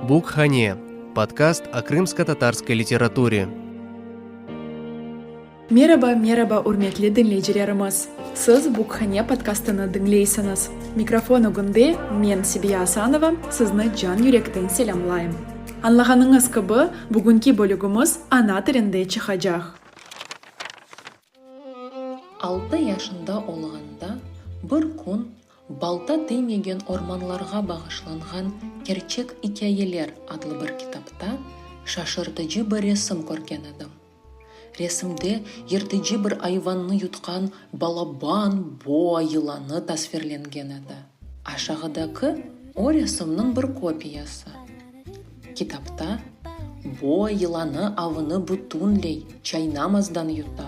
Bukhane, podkast o krımsko-tatarskoi literaturi. Meraba, meraba, ürmetli diñleycilerimiz! Siz Bukhane podkastını diñleysiñiz. Mikrofon ögünde men, Sebiya Asanova, sizni can yürekten selâmlayım. Añlağanıñız kibi, bugünki bölügimiz ana tilinde çıqacaq. Altı yaşında olğanda bir kün Balta teymegen ormanlarğa bağışlanğan kerçek ikâyeler adlı bir kitapta şaşırtıcı bir resim körgen edim. Resimde yırtıcı bir ayvannı yutqan balaban boa yılanı tasvirlengen edi. Aşağıdaki o resimniñ bir kopiyası. Kitapta, boa yılanı avını bütünley çaynamazdan yuta,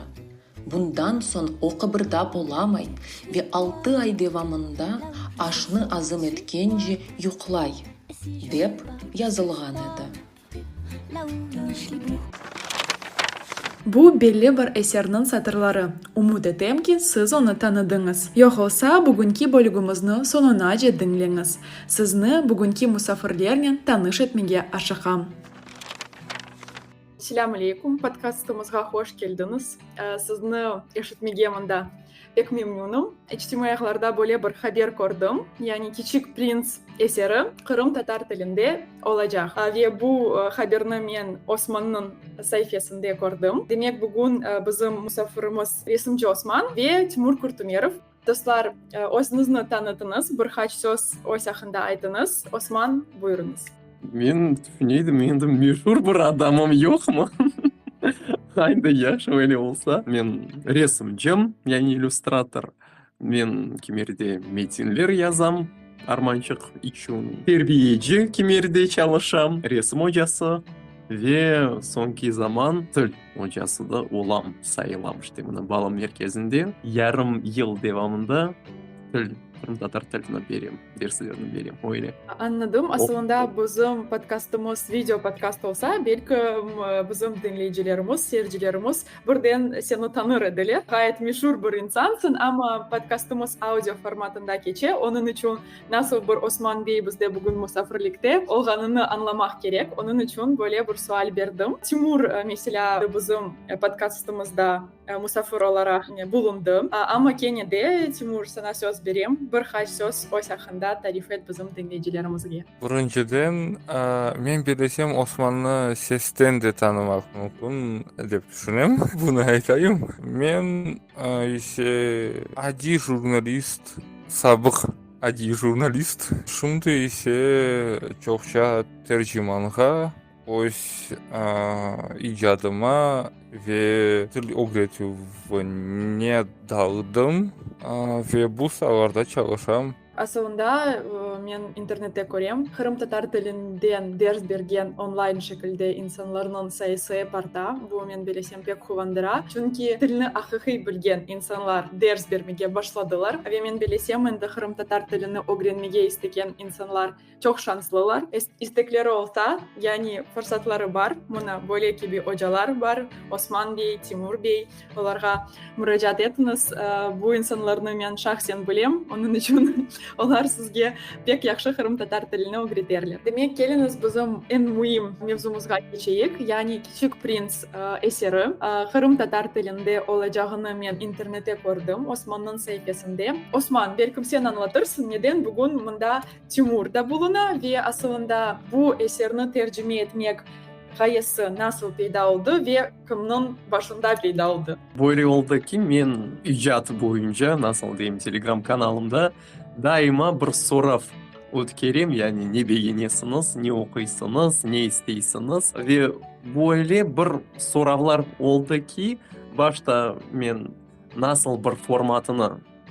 bundan soñ o qıbırdap olamay ve altı ay devamında aşnı azım etkence yuqlay, dep yazılğan edi. Bu belli bir eserniñ satırları. Ümüt etem ki, siz onı tanıdıñız. Yoqolsa, bugünki bölügimizni soñunace diñleñiz. Sizni bugünki musafirlernen tanış etmege aşıqam. Selâm aleykum, podkastımızğa hoş keldiñiz. Sizni eşitmege mında pek memnünüm. İçtimaiy ağlarda böyle bir haber kördim, yani Kiçik prins eseri Qırım tatar tilinde olacaq. Ve bu haberni men Osmannıñ saifesinde kördim. Demek, bugün bizim musafirimiz resimci Osman ve Timur Kurtumerov. Dostlar, özüñizni tanıtıñız, bir qaç söz öz aqqında aytıñız. Osman, buyurıñız. Men tüşüneydim, endi meşur bir adamım yoqmı? Haydi, yaxşı, öyle olsa. Men resimcim, yani illüstrator. Men Kimerde metinler yazam, Armançıq içün. Terbiyeci Kimerde çalışam, resim ocası ve soñki zaman til. Ocası da olam sayılamış temini bağlav merkezinde. Yarım yıl devamında til, qırımtatar tilini berem, derslerini berem, öyle. Añladım. Asılında bizim podkastımız video podkast olsa, belkim bizim diñleyicilerimiz, seyircilerimiz birden seni tanır ediler. Ğayet meşur bir insansıñ, amma podkastımız audio formatında keçe, onıñ içün Nasıl bir Osman bey bizde bugün musafirlikte olğanını añlamaq kerek, onıñ içün böyle bir sual berdim. Timur, meselâ, bizim podkastımızda musafir olaraq bulundı. Amma kene de, Timur, saña söz berem, bir qaç söz öz aqqında tarif et bizim diñleyicilerimizge. Birinciden, men belesem Osmannı sesten de tanımaq mümkün dep tüşünem, bunı aytayım. Men ise adiy jurnalist. Sabıq adiy jurnalist, şimdi ise çoqça tercimanğa, öz icadıma ve til ögretüvine daldım ve bu saalarda çalışam. Asılında men internette körem, qırımtatar tilinden ders bergen onlayn şekilde insanlarnıñ sayısı ep arta, bu men belesem. pek quvandıra, çünki tilni aqiqiy bilgen insanlar ders bermege başladılar ve men bilesem, endi qırımtatar tilini ögrenmege istegen insanlar çoq şanslılar. İstekleri olsa, yani fırsatları bar, mına böyle kibi ocalar bar, Osman bey, Timur bey, olarğa muracaat etiñiz. Bu insanlarnı men şahsen bilem, onıñ içün olar sizge pek yahşı qırımtatar tilini ögreterler. Demek, keliñiz bizim eñ müim mevzumızğa keçeyik, yani. Tük prints eseri Qırım tatar tilinde olacağını men internette kördim, Osmannıñ saifesinde. Osman, belkim sen añlatırsıñ, neden bugün mında Timur da buluna ve asılında bu eserni tercime etmek ğayesi nasıl peyda oldı ve kimniñ başında peyda oldı? Böyle oldı ki, men icad boyunca, nasıl deyim, telegram kanalımda, Daima bir sorav ötkerem, yani ne begenesiñiz, ne oquysıñız, ne isteysiniz. Ve böyle bir soravlar oldı ki, başta men nasıl bir formatını,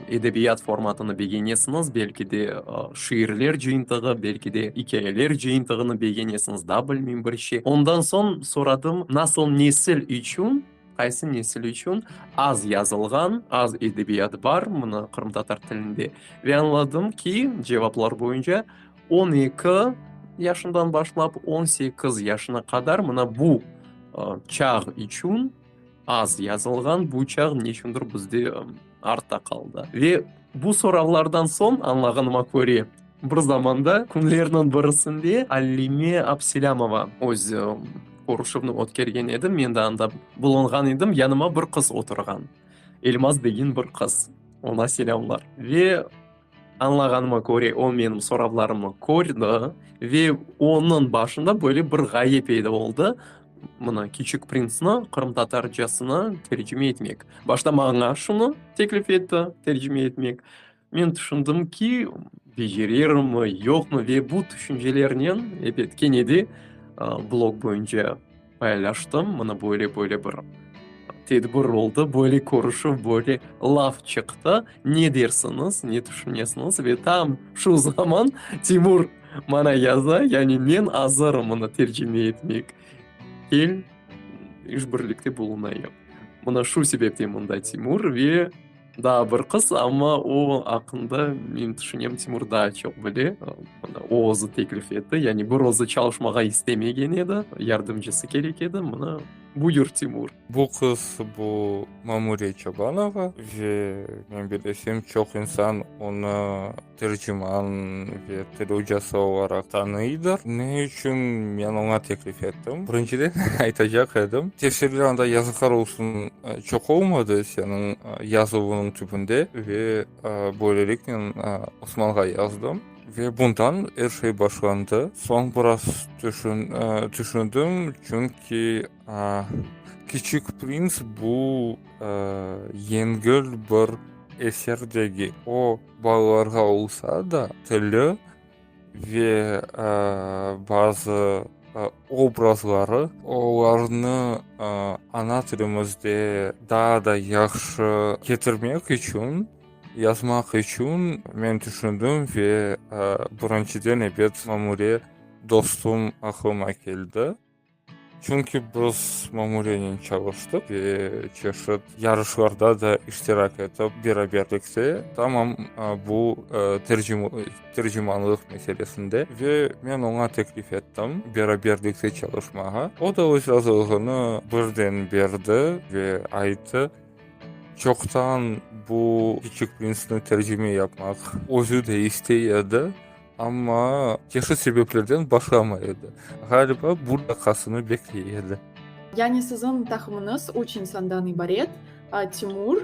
edebiyat formatını begenesiñiz, belki de şiirler cıyıntığı, belki de ikâyeler cıyıntığını begenesiñiz, da bilmeyim, bir şey. Ondan soñ soradım, nasıl nesil içün? Qaysı nesil içün az yazılğan, az edebiyat bar mına qırımtatar tilinde? Ve añladım ki, cevaplar boyunca on eki yaşından başlap on sekiz yaşına qadar mına bu çağ içün az yazılğan, bu çağ neçündir bizde artta qaldı. Ve bu soravlardan soñ, añlağanıma köre, bir zamanda künlerniñ birisinde Alime Abselâmova öz körüşüvni ötkergen edi, men de anda bulunğan edim, yanıma bir qız oturğan, Elmaz degen bir qız, oña selâmlar. Ve. Añlağanıma köre, o menim soravlarımnı kördi ve onıñ başında böyle bir ğaye peyda oldı, mına, Küçük printsni qırımtatarcasına tercime etmek. Başta maña şunı teklif etti, tercime etmek. Men tüşündim ki, becerirmi, yoqmı ve bu tüşüncelernen, ebet, kene de blog boyunca. Paylaştım, mına böyle böyle bir tedbir oldı, böyle körüşüv, böyle laf çıqtı, ne dersiñiz, ne tüşünesiñiz? Ve tam şu zaman Timur maña yaza, yani men azırım onı tercime etmek, kel, işbirlikte bulunayıq. Mına şu sebepten mında Timur ve… Daa bir qız, amma o aqqında men tüşünem, Timur daa çoq bile. O özü teklif etti, yani bir özü çalışmağa istemegen edi, yardımcısı kerek edi, mına, buyur, Timur. Bu qız, bu Mamure Çobanova ve men bilesem, çoq insan onı. Terciman ve til ocası olaraq tanıydır. Ne içün men oña teklif ettim? Birinciden, aytacaq edim, tefsirler anda yazıqlar olsun çoq olmadı seniñ yazuvıñnıñ tübünde ve böyleliknen Osmanğa yazdım ve bundan er şey başlandı. Soñ biraz tüşündim, çünki Kiçik prins bu yengil bir eser degil. O. Balalarğa olsa da tili ve bazı obrazları olarnı ana tilimizde daa da yahşı ketirmek içün, yazmaq içün men tüşündim ve birinçiden ebet Mamure dostum aqlıma keldi. Çünki biz mamuriyenen çalıştıq ve çeşit yarışlarda da iştirak etip, beraberlikte, tamam bu tercimanlıq meselesinde ve men oña teklif ettim beraberlikte çalışmağa. O da öz razılığını birden berdi ve ayttı, çoqtan bu Kiçik prinsni tercime yapmaq özü de istey edi. Amma çeşit sebeplerden başlamay edi. Ğaliba, buradaqasını bekley edi. Yani siziñ taqımıñız üç insandan ibaret, Timur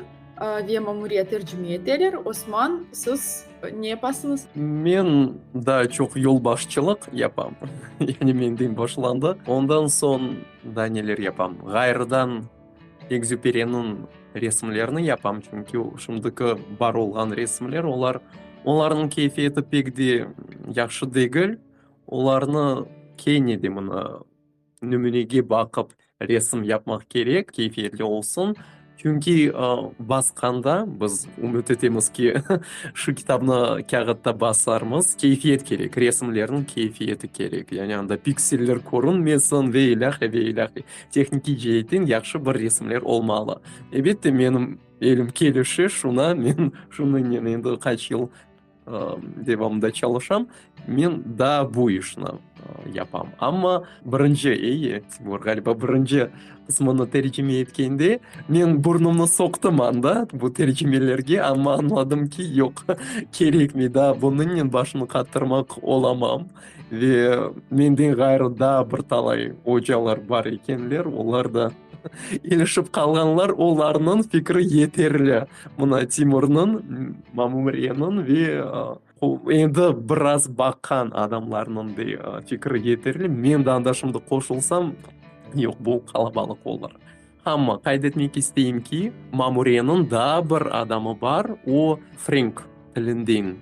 ve Mamuriya tercime eteler. Osman, siz ne yapasıñız? Men daa çoq yolbaşçılıq yapam. Yani menden başlandı. Ondan soñ daa neler yapam? Ğayrıdan. Ekzüperiniñ resimlerini yapam, çünki şimdiki bar olğan resimler, olar, onlarnıñ keyfiyeti pek de yahşı degil. Olarnı kene de mına nümünege baqıp resim yapmaq kerek, keyfiyetli olsun. Çünki basqanda biz ümüt etemiz ki, şu kitabnı kâğıtta basarmız, keyfiyet kerek, resimlerniñ keyfiyeti kerek, yani anda pikseller körünmesin ve ilâhre, ve ilâhre. Tehnikiy ceetten yahşı bir resimler olmalı. Elbette, menim elim kelişi şuna, men şunıñnen endi qaç yıl devamında çalışam, men daa bu işni yapam. Amma birinci, eye, Timur, ğaliba birinci qısmını tercime etkende, men burnumnı soqtım anda bu tercimelerge, amma añladım ki, yoq, kerekmey, daa bunıñnen başımnı qattırmaq olamam. Ve menden ğayrı daa bir talay ocalar bar ekenler, olar da ilişip qalğanlar, olarnıñ fikri yeterli mına Timurnıñ, Mamumreniñ ve endi biraz baqan adamlarnıñ dey fikri yeterli. Men de anda şimdi qoşulsam, yoq, bu qalabalıq olar. Amma qayd etmek isteyim ki, Mamureniñ daa bir adamı bar, o frenk tilinden.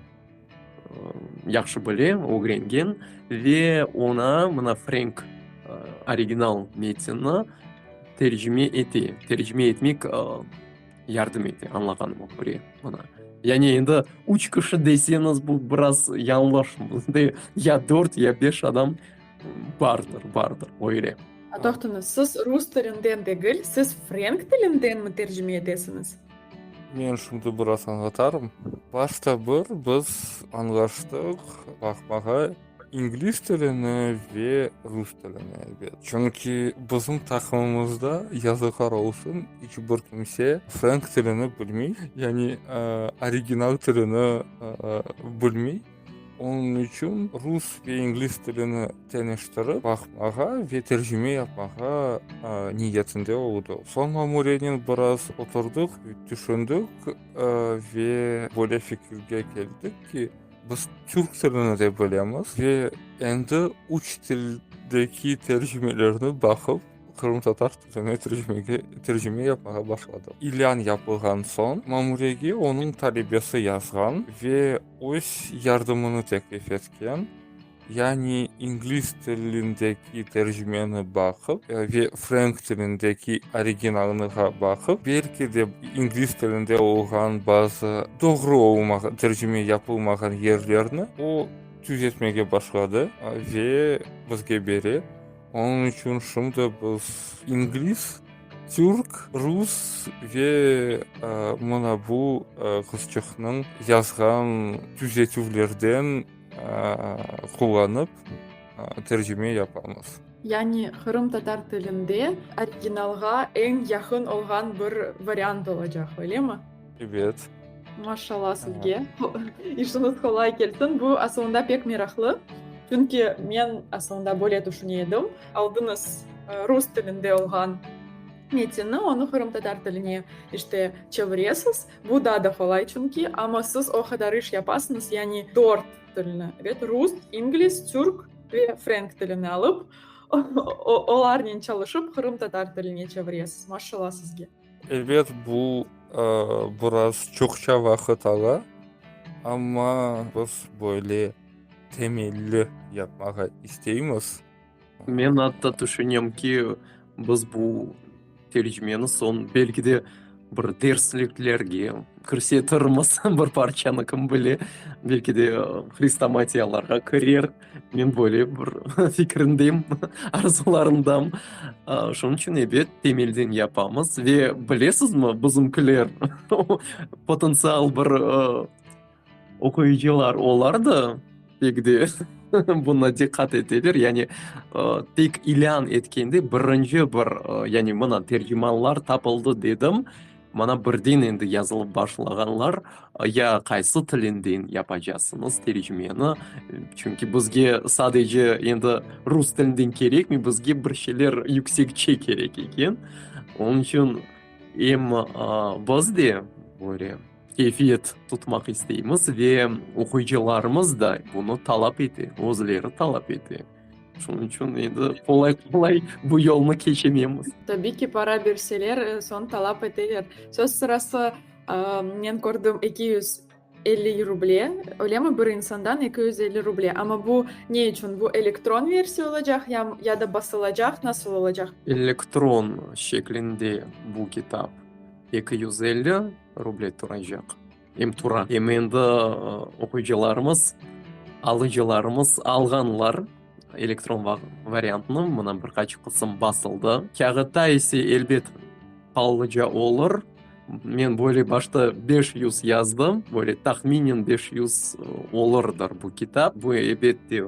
yahşı bile, ögrengen ve oña mına frenk original metnni tercime ete, tercime etmek yardım ete, añlağanıma köre mına. Yani endi üç kişi deseñiz, bu biraz yañlış, bizde ya dört, ya beş adam bardır, bardır, öyle. Toqtañız, siz rus tilinden degil, siz frenk tilindenmi tercime etesiñiz? Men şimdi biraz añlatarım. Başta bir biz añlaştıq baqmağa ingliz tilini ve rus tilini, elbet. Çünki bizim taqımımızda, yazıqlar olsun, iç bir kimse frenk tilini bilmey, yani original tilini bilmey. Onıñ içün rus ve ingliz tilini teñiştirip baqmağa ve tercime yapmağa niyetinde oldı. Soñ mamurenen biraz oturdıq, tüşündik ve böyle fikirge keldik ki, biz türk tilini de bilemiz ve endi üç tildeki tercimelerni baqıp, qırımtatar tiline tercime yapmağa başladıq. İlân yapılğan soñ, mamurege onıñ talebesi yazğan ve. öz yardımını teklif etken, yani ingliz tilindeki tercimeni baqıp ve frenk tilindeki originalnığa baqıp, belki de ingliz tilinde olğan bazı doğru olmağan, tercime yapılmağan yerlerni o tüzetmege başladı ve bizge bere. Onıñ içün şimdi biz ingliz, türk, rus ve mına bu qızçıqnıñ yazğan tüzetüvlerden qullanıp tercime yapamız. Yani qırımtatar tilinde originalğa eñ yaqın olğan bir variant olacaq, öylemi? Ebet. Maşallah sizge. İşiñiz qolay kelsin. Bu asılında pek meraqlı. Çünki men asılında böyle tüşüne edim. Aldınız rus tilinde olğan metinni, onı qırımtatar tiline işte çeviresiz. Bu daa da qolay çünki. Amma siz o qadar iş yapasıñız, yani dört tilni, ebet, rus, ingliz, türk ve frenk tilini alıp, olarnen çalışıp qırımtatar tiline çeviresiz. Maşallah sizge. Ebet, bu biraz çoqça vaqıt ala, amma biz böyle temelli yapmağa isteymiz. Men atta tüşünem ki, biz bu tercimeni soñ belki de bir dersliklerge kirsetirmiz, bir parçanı kim bile, belki de hrestomatiyalarğa kirer. Men böyle bir fikirimdeyim, arzularımdam. Şunıñ içün, ebet, temelden yapamız. Ve bilesizmi, bizimkiler, potentsial bir oquyıcılar, olar da pek de buna diqqat eteler. Yani tek ilân etkende birinci bir, yani mına tercimanlar tapıldı dedim. Mana birden endi yazılıp başlağanlar, ya qaysı tilinden yapacaqsıñız tercimeni? Çünki bizge sadece endi rus tilinden kerekmi, bizge bir şeyler yüksekçe kerek eken. Onıñ içün em biz de böyle keyfiyet tutmaq isteymiz ve oquyıcılarımız da bunı talap ete, özleri talap ete. Şunıñ içün endi qolay-qolay bu yolnı keçememiz. Tabiy ki, para berseler, sonı talap eteler. Söz sırası, men kördim, eki yüz elli ruble, öylemi, bir insandan eki yüz elli ruble. Amma bu ne içün? Bu elektron versiya olacaq ya da basılacaq, nasıl olacaq? Elektron şeklinde bu kitap eki yüz elli ruble turacaq. Em tura, em endi oquyıcılarımız, alıcılarımız alğanlar elektron variantını, mına bir qaç qısım basıldı. Kâğıtta ise elbet Pallıca olur. Men böyle başta beş yüz yazdım, böyle tahminen beş yüz olurdır bu kitap. Bu elbet de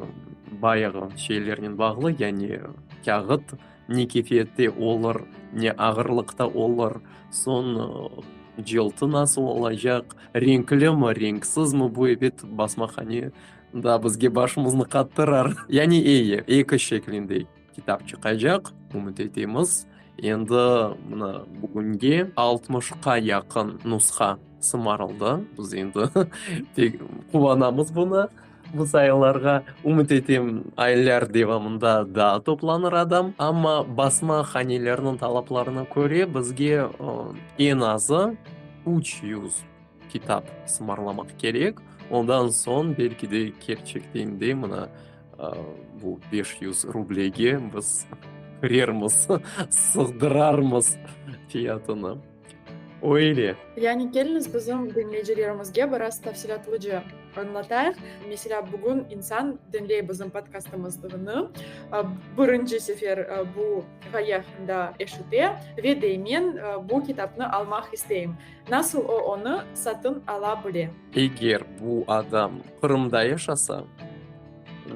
bayağı şeylernen bağlı, yani kâğıt, Ne keyfiyette olur, ne ağırlıqta olur, soñ cıltı nasıl olacaq, renklimi, renksizmi, bu ebet basmahane da bizge başımıznı qattırar. Yani eye, eki şeklinde kitap çıqacaq, ümüt etemiz. Endi mına bugünge altmışqa yaqın nusqa sımarıldı, biz endi quvanamız bunı. Bu sayıllarğa, ümüt etem, aylar devamında daa toplanır adam, amma basma hanelerniñ talaplarına köre, bizge eñ azı üç yüz kitap sımarlamaq kerek, ondan soñ belki de kerçekten de mına bu beş yüz rublege biz kirermiz, sığdırarmız fiyatını. Öyle. Yani keliñiz bizim diñleyicilerimizge biraz tafsilâtlıca añlatayıq. Meselâ, bugün insan diñley bizim podkastımıznı, birinci sefer bu ğaye aqqında eşite ve deymen, bu kitapnı almaq isteyim. Nasıl o onı satın ala bile? Eger bu adam Qırımda yaşasa,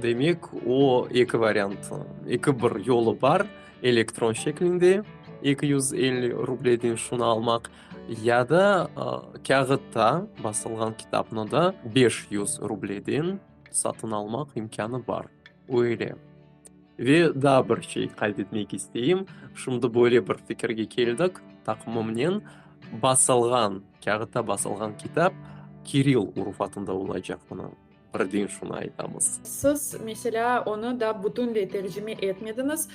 demek o eki variantı, eki bir yolu bar, Elektron şeklinde eki yüz elli rubleden şunı almaq, ya da kâğıtta basılğan kitapnı da beş yüz rubleden satın almaq imkânı bar. Öyle. Ve daa bir şey qayd etmek isteyim, şimdi böyle bir fikirge keldik taqımımnen, basılğan, kâğıtta basılğan kitap kiril urufatında olacaq bunıñ. Birden şunı aytamız. Siz, meselâ, onı da bütünley tercime etmediñiz.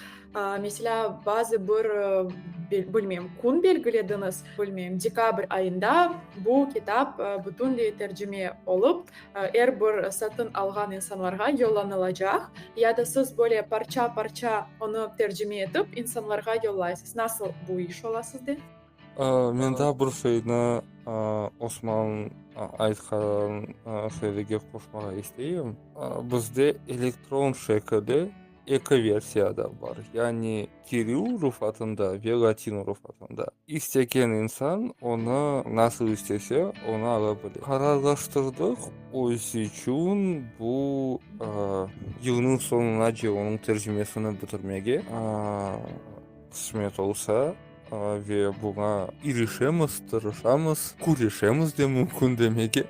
Meselâ, bazı bir, bilmeyim, kün belgilediñiz, bilmeyim, dekabr ayında bu kitap bütünley tercime olıp, er bir satın alğan insanlarğa yollanılacaq, ya da siz böyle parça-parça onı tercime etip insanlarğa yollaysız. Nasıl bu iş ola sizde? Mende bir şeyni Osman aytqan şeylerge qoşmağa isteyim. Bizde elektron şekili eki versiyada bar. Yani Kiril rufatında ve Latin rufatında. İstegen insan onı nasıl istese, onı ala bile. Qararlaştırdıq, özü içün bu yılnıñ soñunace onıñ tercimesini bitirmege qısmet olsa. Ve buña irişemiz, tırışamız, küreşemiz de mümkün demege.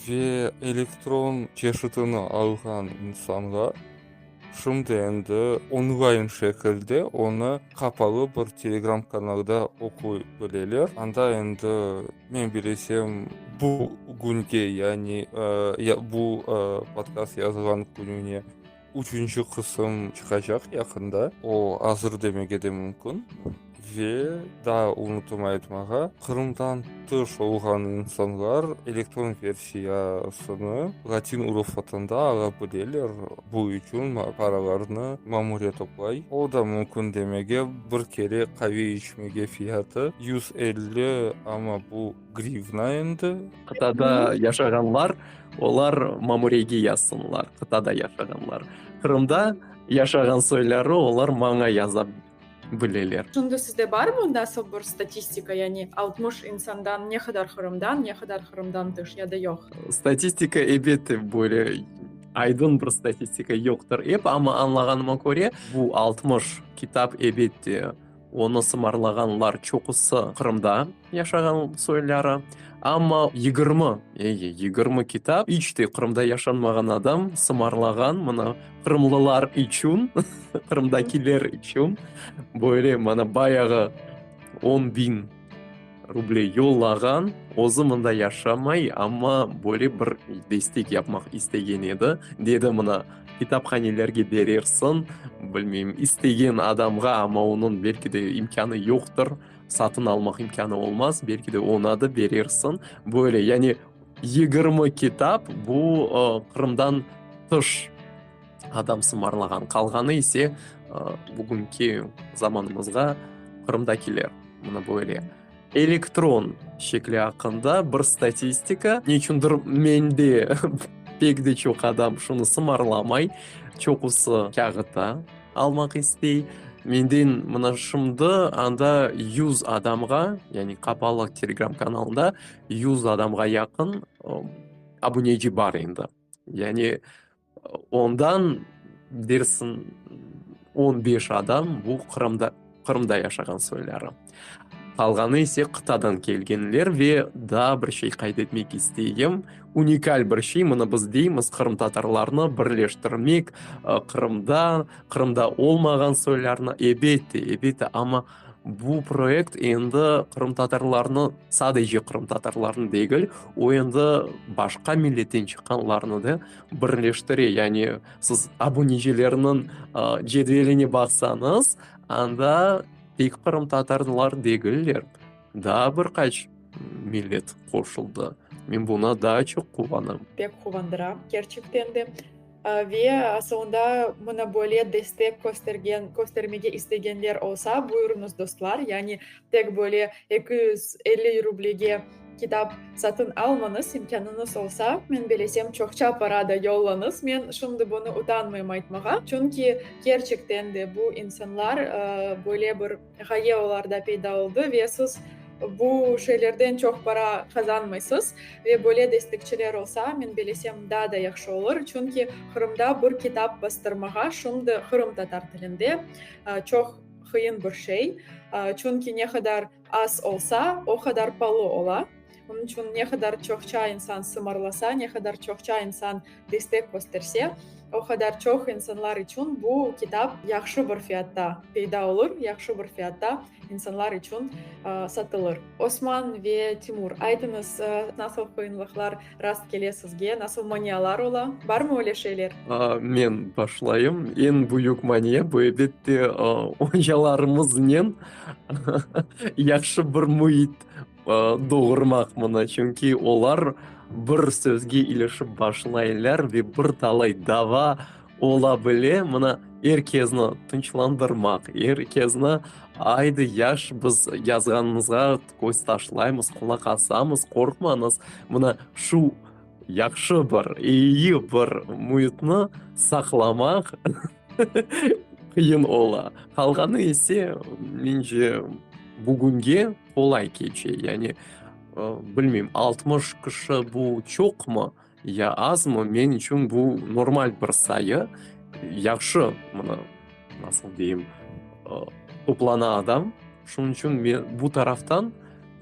Ve elektron çeşitini alğan insanğa şimdi endi onlayn şekilde onı qapalı bir Telegram kanalda oquy bileler. Anda endi men bilesem bugünge, yani bu podkast yazılğan kününe, Üçünci qısım çıqacaq yaqında. O, azır demege de mümkün. Ve daa unutıma aytmağa, Qırımdan tış olğan insanlar elektron versiyasını latin urufatında ala bileler, bu içün paralarnı mamuriya toplay. O da mümkün demege, bir kere qave içmege fiyatı yüz elli, amma bu. Grivna endi. Qıtada yaşağanlar, olar mamurege yazsınlar, qıtada yaşağanlar. Qırımda yaşağan soyları olar maña yaza bileler. Şimdi sizde barmı mındasıl bir statistika, yani altmış insandan ne qadar Qırımdan, ne qadar Qırımdan tış, ya da yoq? Statistika, elbette, böyle aydın bir statistika yoqtır. Ep, amma añlağanıma köre, bu altmış kitap, elbette, Onı sımarlağanlar çoqusı Qırımda yaşağan soyları, amma yigirmi, ege, yigirmi kitap iç te Qırımda yaşanmağan adam sımarlağan, mına, qırımlılar içün, qırımdakiler içün, böyle, mana, bayağı on biñ Ruble yollağan, özü mında yaşamay, amma böyle bir destek yapmaq istegen edi. Dedi, mına, kitaphanelerge berersiñ, bilmeyim, istegen adamğa, amma onıñ belki de imkânı yoqtır, satın almaq imkânı olmaz, belki de oña da berersiñ. Böyle, yani yigirmi kitap, bu Qırımdan tış. adam sımarlağan, qalğanı ise bugünki zamanımızğa Qırımdakiler, mına böyle. Elektron şekli aqqında bir statistika, ne içündir mende pek de çoq adam şunı sımarlamay, çoqusı kâğıtta almaq istey. Menden mına şimdi anda yüz adamğa, yani qapalı Telegram kanalında yüz adamğa yaqın abuneci bar endi. Yani. Ondan dersiñ on beş adam bu Qırımda, Qırımda yaşağan soyları. Qalğanı ise qıtadan kelgenler ve daa bir şey qayd etmek isteyim, unikal bir şey, mını biz deymiz, qırımtatarlarnı birleştirmek, Qırımda, Qırımda olmağan soylarnı, elbette, elbette, amma, Bu proyekt endi qırımtatarlarnı, sadece qırımtatarlarnı degil, o endi başqa milletten çıqqanlarnı da birleştire. Yani siz abunecilerniñ cedveline baqsañız, anda tek qırımtatarlar degiller, daa bir qaç millet qoşuldı. Men buna daa çoq quvanam. Pek quvandıra, kerçekten de. Ve soñda mına böyle destek köstergen, köstermege istegenler olsa, buyurıñız dostlar, yani tek böyle eki yüz elli rublege kitap satın almañız, imkânıñız olsa, men belesem çoqça para da yollañız, men şimdi bunı utanmayım aytmağa, çünki kerçekten de bu insanlar böyle bir, Ğaye olarda peyda oldı ve siz bu şeylerden çoq para qazanmaysız ve böyle destekçiler olsa, men belesem, daa da yahşı olur, çünki Qırımda bir kitap bastırmağa şimdi qırımtatar tilinde çoq qıyın bir şey, çünki ne qadar az olsa, o qadar palı ola. Onıñ içün ne qadar çoqça insan sımarlasa, ne qadar çoqça insan destek kösterse, o qadar çoq insanlar içün bu kitap yahşı bir fiyatta peyda olur, yahşı bir fiyatta insanlar içün satılır. Osman ve Timur, aytıñız, nasıl qıyınlıqlar rast kele sizge, nasıl manialar ola? Barmı öyle şeyler? Men başlayım. Eñ büyük mania, bu, elbette, ocalarımıznen yahşı bir müit, doğurmaq bunı, çünki olar bir sözge ilişip başlaylar ve bir talay dava ola bile, mına, er kezni tınçlandırmaq, er kezni, aydı, yaş, biz yazğanınızğa köz taşlaymız, qulaq asamız, qorqmañız, mına, şu yahşı bir, eyi bir müitni saqlamaq qıyın ola. Qalğanı ise, mence, bugünge, Olay keçe, yani, bilmeyim, altmış kişi bu çoqmı ya azmı, men içün bu normal bir sayı. Yahşı, mına, nasıl deyim, toplana adam, şunıñ içün men bu taraftan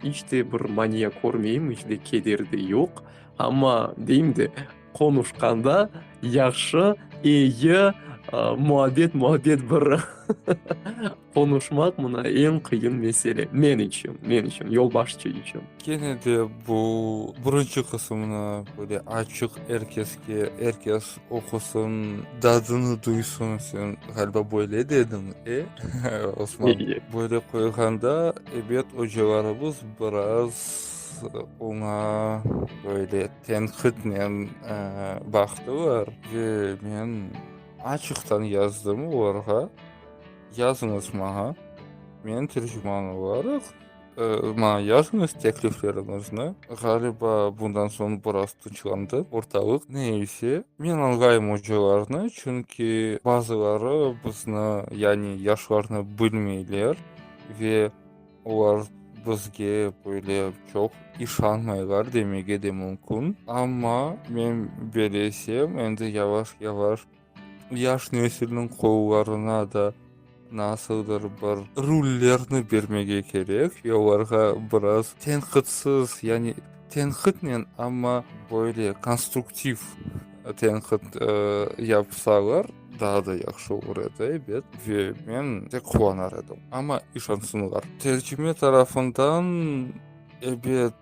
iç te bir mania körmeyim, iç te keder de yoq. Amma, deyim de, qonuşqanda yahşı, eyi, muabbet-muabbet bir Qonuşmaq mına eñ qıyın mesele, men içün, men içün, yolbaşçı içün. Kene de bu birinci qısımnı böyle açıq er keske, er kes oqusın, dadını duysın, sen ğaliba böyle dediñ, e? Osman, böyle qoyğanda, ebet, ocalarımız biraz oña böyle tenqitnen baqtılar ve men açıqtan yazdım olarğa. Yazıñız maña, men terciman olaraq, maña yazıñız teklifleriñizni. Ğaliba, bundan soñ biraz tınçlandı ortalıq. Ne ise, men añlayım ocalarnı, çünki bazıları bizni, yani yaşlarnı bilmeyler ve olar bizge böyle çoq işanmaylar demege de mümkün. Amma men belesem, endi yavaş-yavaş. Yaş nesilniñ qollarına da nasıldır bir rullerni bermege kerek ve olarğa biraz tenqitsiz, yani tenqitnen, amma böyle konstruktiv tenqit yapsalar, daa da yahşı olur edi, ebet, ve men de quvanar edim. Amma, işansınlar. Tercime tarafından, ebet,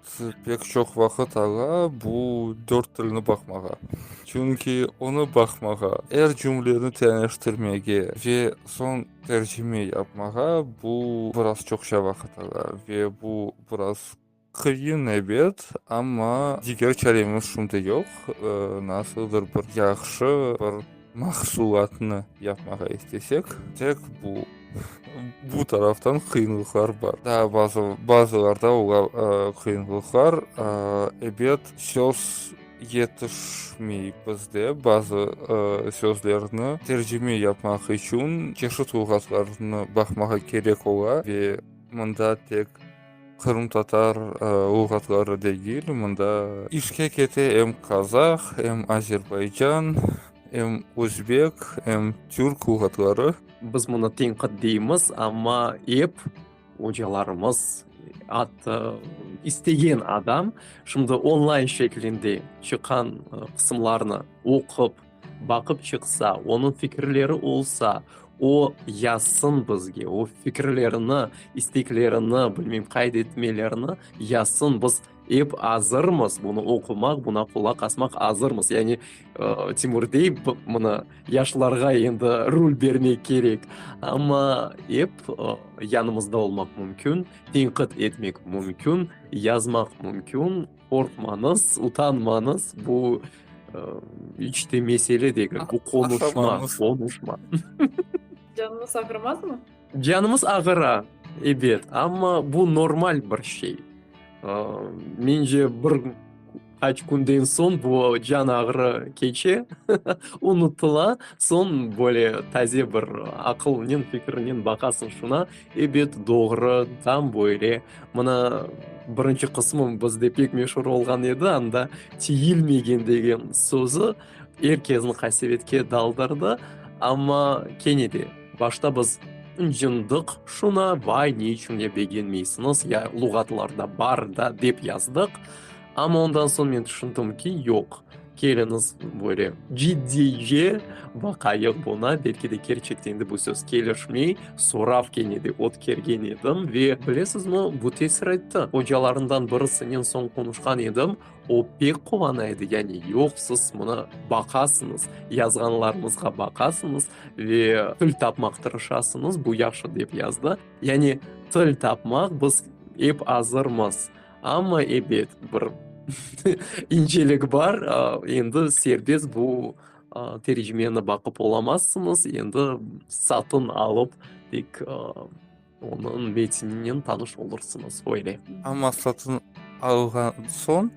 Pek çoq vaqıt ağa bu dört tilni baqmağa. Çünki onı baqmağa, er cümleni teniştirmege ve soñ tercime yapmağa bu biraz çoqça vaqıt ağa ve bu biraz qıyın, ebet, amma diger çaremiz şimdi yoq. Nasıldır bir yahşı bir. mahsulatnı yapmağa istesek, tek bu, bu taraftan qıyınlıqlar bar. Daa bazı, bazılarda olar, qıyınlıqlar, ebet, söz yetişmey bizde, bazı sözlerni tercime yapmaq içün çeşit luğatlarnı baqmağa kerek ola ve mında tek. Qırımtatar luğatları degil, mında işke kete em qazaq, em azerbaycan, em özbek, em türk luğatları. Biz bunı tenqit deymiz, amma ep ocalarımız atı istegen adam şimdi onlayn şeklinde çıqqan qısımlarnı oqup, Baqıp çıqsa, onıñ fikirleri olsa, o, yazsın bizge, o fikirlerini, isteklerini, bilmeyim, qayd etmelerini yazsın, biz ep azırmız bunı oqumaq, buna qulaq asmaq azırmız. Yani, Timur dey, mına, yaşlarğa endi rul bermek kerek. Amma ep yanımızda olmaq mümkün, tenqid etmek mümkün, yazmaq mümkün. Qorqmañız, utanmañız, bu iç te mesele degil, bu qonuşma, qonuşma. Canımız ağırmazmı? Canımız ağıra, ebet, amma bu normal bir şey. Mence, bir qaç künden soñ bu can ağrı keçe, unutıla, soñ böyle taze bir aqılnen, fikirnen baqasıñ şuna. Ebet, doğru, tam böyle. Mına, birinci qısmı bizde pek meşur olğan edi, anda tiyilmegen degen sözü er kesni qasevetke daldırdı. Amma kene de, başta biz ıncındıq şuna, vay, ne içün ya begenmeysiñiz, ya luğatlarda bar da, dep yazdıq. Amma ondan soñ men tüşündim ki, yoq, Keliñiz böyle ciddiye baqayıq buna, belki de kerçekten de bu söz kelişmey, sorav kene de ötkergen edim ve bilesizmi, bu tesir etti. Ocalarından birisinen soñ qonuşqan edim, o pek quvana edi, yani yoq, siz mına baqasıñız, yazğanlarıñızğa baqasıñız ve til tapmaq tırışasıñız, bu yahşı, dep yazdı. Yani til tapmaq biz ep azırmız. Amma ebet, bir incelik bar, endi serbest bu tercimeni baqıp olamazsıñız, endi satın alıp tek onıñ metininen tanış olursıñız, öyle. Amma satın alğan soñ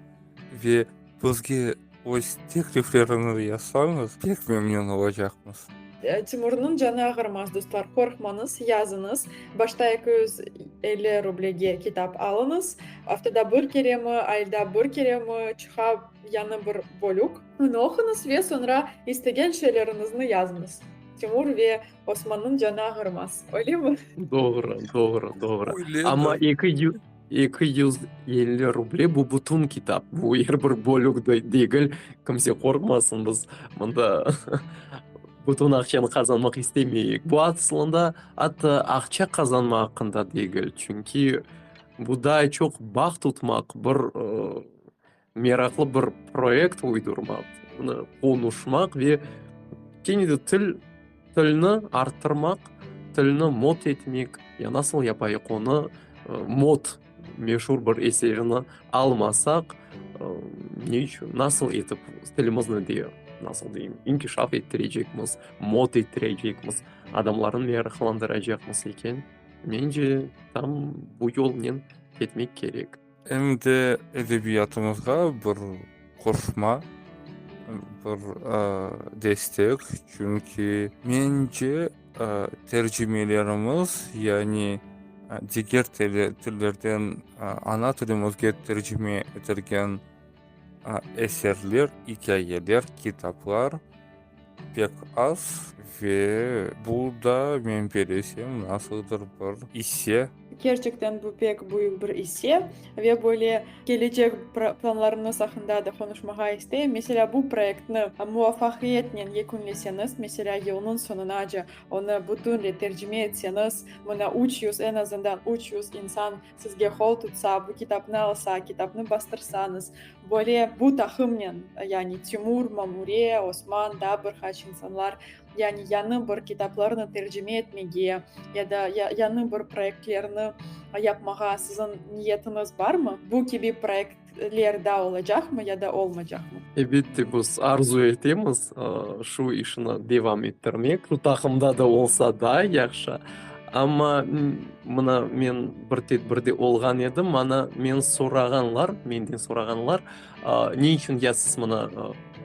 ve Bizge öz teklifleriñiz yasañız, pek memnün olacaqmız. Timurnıñ canı ağırmaz, dostlar, qorqmañız, yazıñız. Başta eki yüz elli rublege kitap alıñız, aftada bir keremi, ayda bir keremi çıqa yañı bir bölük. Onı oquñız ve soñra istegen şeyleriñizni yazıñız. Timur ve Osmannıñ canı ağırmaz, öylemi? Doğru, doğru, doğru. Amma eki yüz. Eki yüz elli ruble, bu bütün kitap, bu er bir bölük degil, kimse qorqmasın, biz mında bütün aqçanı qazanmaq istemeyik. Bu aslında atta aqça qazanmaq aqqında degil, çünki bu daa çoq bağ tutmaq, bir Meraqlı bir proyekt uydurmaq, bunı qonuşmaq ve kene de til, tilni arttırmaq, tilni mot etmek, ya nasıl yapayıq onı, mot, meşur bir eserini almasaq, ne içün, nasıl etip tilimizni de, nasıl deyim, inkişaf ettirecekmiz, mot ettirecekmiz, adamlarnı meraqlandıracaqmız eken? Mence, tam bu yolnen ketmek kerek. Em de edebiyatımızğa bir qoşma, bir destek, çünki mence tercimelerimiz, yani diger tillerden ana tilimizge tercime etilgen eserler, ikâyeler, kitaplar, Pek az ve bu da men belesem nasıldır bir isse. Kerçekten bu pek büyük bir isse ve böyle kelecek planlarıñız aqında da qonuşmağa isteyim. Meselâ, bu proyektni muvafaqiyetnen yekünleseñiz, meselâ, yılnıñ soñunace onı bütünle tercime etseñiz, mına üç yüz, en azından üç yüz insan Sizge qol tutsa, bu kitapnı alsa, kitapnı bastırsañız, böyle bu taqımnen, yani Timur, Mamure, Osman, daa bir qaç insanlar, yani yañı bir kitaplarnı tercime etmege ya da yañı bir proyektlerni yapmağa siziñ niyetiñiz barmı? Bu kibi proyekt. ler daa olacaqmı ya da olmaycaqmı? Elbette, biz arzu etemiz şu işni devam ettirmek, şu taqımda da olsa daa yahşı. Amma mına men bir tedbirde olğan edim, mana men sorağanlar, menden sorağanlar ne içün ya siz mına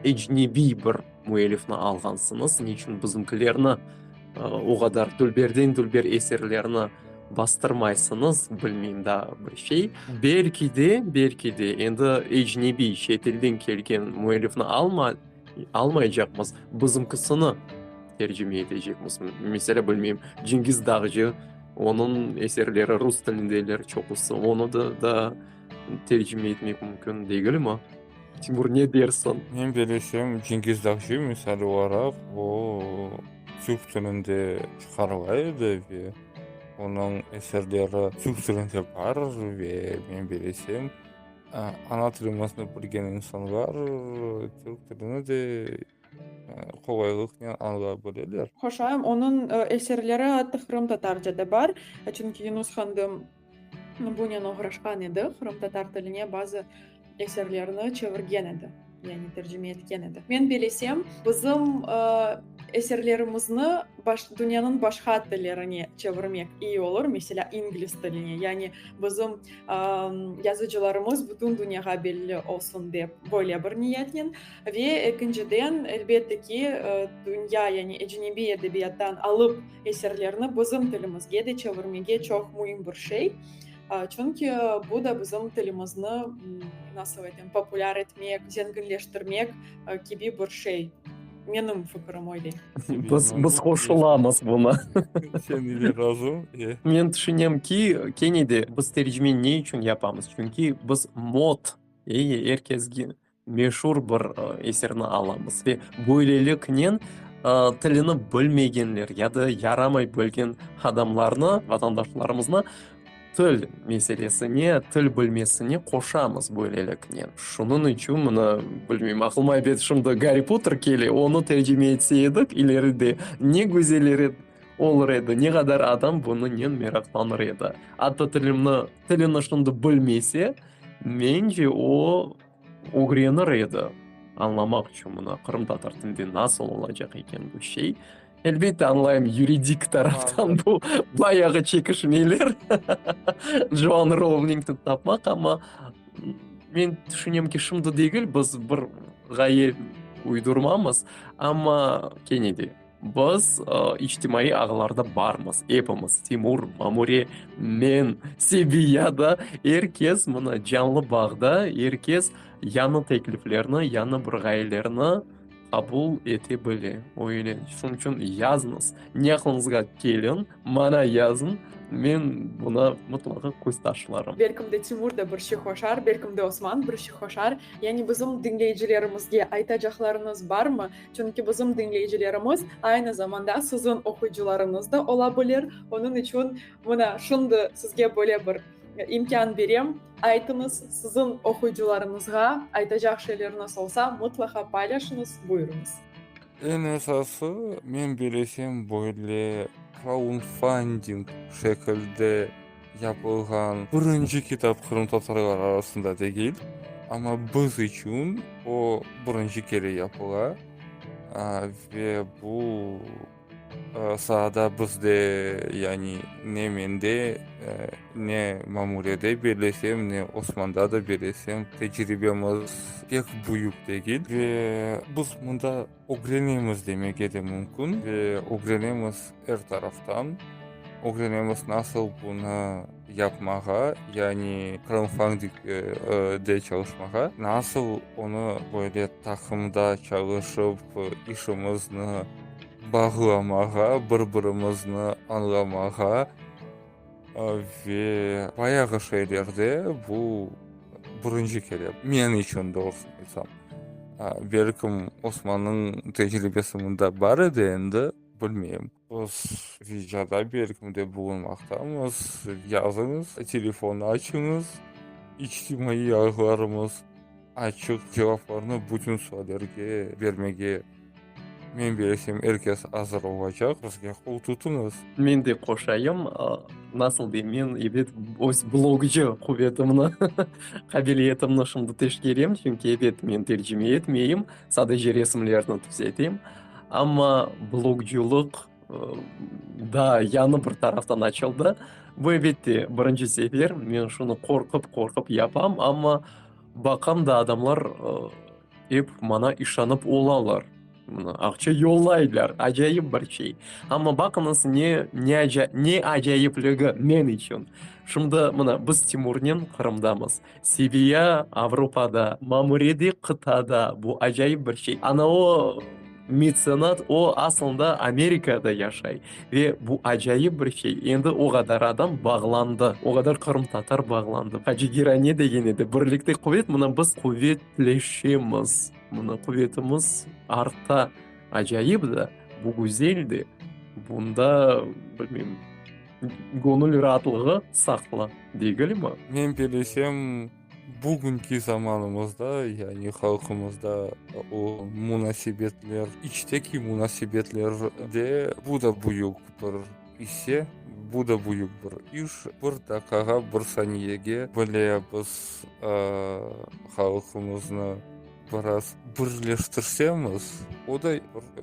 ecnebiy bir. Müellifni alğansıñız, niçün bizimkilerni, o qadar dülberden-dülber eserlerni bastırmaysıñız, bilmeyim daa bir şey. Belki de, belki de, endi ecnebiy, çet ilden kelgen müellifni almaycaqmız, bizimkisini tercime etecekmiz. Meselâ, bilmeyim, Cengiz Dağcı, onıñ eserleri rus tilindeler çoqusı, onı da tercime etmek mümkün degilmi? Timur, ne dersiñ? Menim bilişim, Cengiz Dağcı misali olaraq, o, türk tilinde çıqarıla edi ve onıñ eserleri türk tilinde bar ve menim bilişim, ana tilimizni bilgen insanlar türk tilini de qolaylıqnen añlay bileler. Qoşayım, onıñ eserleri atı qırımtatarca da bar, çünki Yunus Handım Bunen oğraşqan edi, qırımtatar tiline bazı eserlerni çevirgen edi, yani tercime etken edi. Men belesem, bizim eserlerimizni dünyanıñ başqa tillerine çevirmek iyi olur, meselâ, ingliz tiline, yani bizim yazıcılarımız bütün dünyağa belli olsun dep, böyle bir niyetnen. Ve ekinciden, elbette ki, dünya, yani ecnebiy edebiyattan alıp, Eserlerni bizim tilimizge de çevirmege çoq müim bir şey. Çünki bu da bizim tilimizni, nasıl aytayım, populâr etmek, zenginleştirmek kibi bir şey. Menim fikrim öyle. Biz, biz qoşulamız buna. Sen ile razım. Men tüşünem ki, kene de biz tercimeni ne içün yapamız? Çünki biz mod, er kesge, meşur bir eserni alamız ve böyleliknen tilini bilmegenler ya da yaramay bilgen adamlarnı, vatandaşlarımıznı til meselesine, til bilmesine qoşamız böyleliknen. Şunıñ içün mına, bilmeyim, aqlıma ebet şimdi Garri Potter kele, onı tercime etse edik ileride ne güzel olur edi, ne qadar adam bunıñnen meraqlanır edi. Atta tilimni, tilini şimdi bilmese, mence o, Ögrenir edi, añlamaq içün mına qırımtatar tilinde nasıl olacaq eken bu şey. Elbette, añlayım, yuridik taraftan bu bayağı çekişmeler, Joan Rovlingni tapmaq, amma men tüşünem ki, şimdi degil, biz bir ğaye uydurmamız, amma kene de. Biz içtimaiy ağlarda barmız, epimiz, Timur, Mamure, men, Sebi, ya da er kes mına canlı bağda, er kes yañı tekliflerni, yañı bir ğayelerni qabul ete bile. Öyle, şunıñ içün yazıñız, ne aqlıñızğa kelin, maña yazıñ, men buna mıtlaqa köz taşlarım. Belkim de Timur da bir şey qoşar, belkim de Osman bir şey qoşar. Yani bizim diñleyicilerimizge aytacaqlarıñız barmı? Çünki bizim diñleyicilerimiz aynı zamanda siziñ oquyıcılarıñız da ola bilir. Onıñ içün mına şimdi sizge böyle bir imkân berem, aytıñız, siziñ oquyıcılarıñızğa aytacaq şeyleriñiz olsa, mıtlaqa paylaşıñız. Buyurıñız. Eñ esası, men bilesem, böyle kraunfanding şekilde. yapılğan birinci kitap qırımtatarlar arasında degil, amma biz içün o birinci kere yapıla ve bu saada bizde, yani ne mende, ne Mamulede, bellesem, ne Osmanda da, bellesem, tecribemiz pek büyük degil ve biz mında, Ögrenemiz demege de mümkün ve ögrenemiz er taraftan. Ögrenemiz nasıl bunı yapmağa, yani kraunfandingde çalışmağa, nasıl onı böyle taqımda çalışıp işimizni bağlamağa, bir birimizni añlamağa. Ve bayağı şeylerde bu birinci kere, men içün doğrusını aytsam. Belkim Osmannıñ tecribesi mında bar edi endi, bilmeyim. Biz Vicada belkim de bulunmaqtamız, yazıñız, telefon açıñız, içtimaiy ağlarımız açıq, cevaplarnı bütün suallerge bermege Men bilesem, er kes azır olacaq, bizge qol tutuñız. Men de qoşayım, nasıl dey, men ebet öz blogcı quvetimni, qabiliyetimni şimdi teşkerem, çünki ebet men tercime etmeyim, sadece resimlerni tüzetem. Amma blogcılıq daa yañı bir taraftan açıldı. Bu, ebet de, birinci sefer, men şunı qorqıp-qorqıp yapam, amma baqam da adamlar, Ep mana işanıp olalar. Mına aqça yollaylar, acayip bir şey. Amma baqıñız ne, ne aca, ne acayipligi men içün. Şimdi mına biz Timurnen Qırımdamız. Seviya Avropada, Mamure de qıtada. Bu acayip bir şey. Ana o, Metsenat, o, asılında, Amerikada yaşay. Ve bu acayip bir şey, endi o qadar adam bağlandı, o qadar qırımtatar bağlandı. Hacı Giray ne degen edi, birlikte quvet, mına biz quvetleşemiz, mına quvetimiz arta. Acayip da, bu güzel de, bunda, bilmeyim, göñül raatlığı saqlı degilmi? Men bilişim. Bugünki zamanımızda, yani halqımızda o munasebetler, içteki munasebetlerde bu da büyük bir isse, bu da büyük bir iş. Bir dakikağa, bir saniyege bile biz halqımıznı. Biraz birleştirsemiz, o da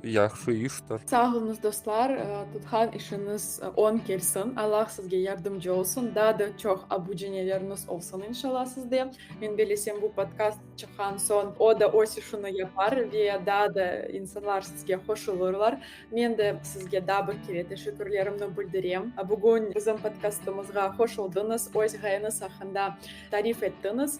yahşı iştir. Sağ olunız dostlar, tutqan işiniz oñ kelsin, Allah sizge yardımcı olsun, daa da çoq abuceneleriniz olsun inşalla sizde. Men belesem bu podkast çıqqan soñ o da öz işini yapar ve daa da insanlar sizge qoşulırlar. Men de sizge daa bir kere teşekkürlerimni bildirem, bugün bizim podkastımızğa qoşuldıñız, öz ğayeñiz aqqında tarif ettiñiz.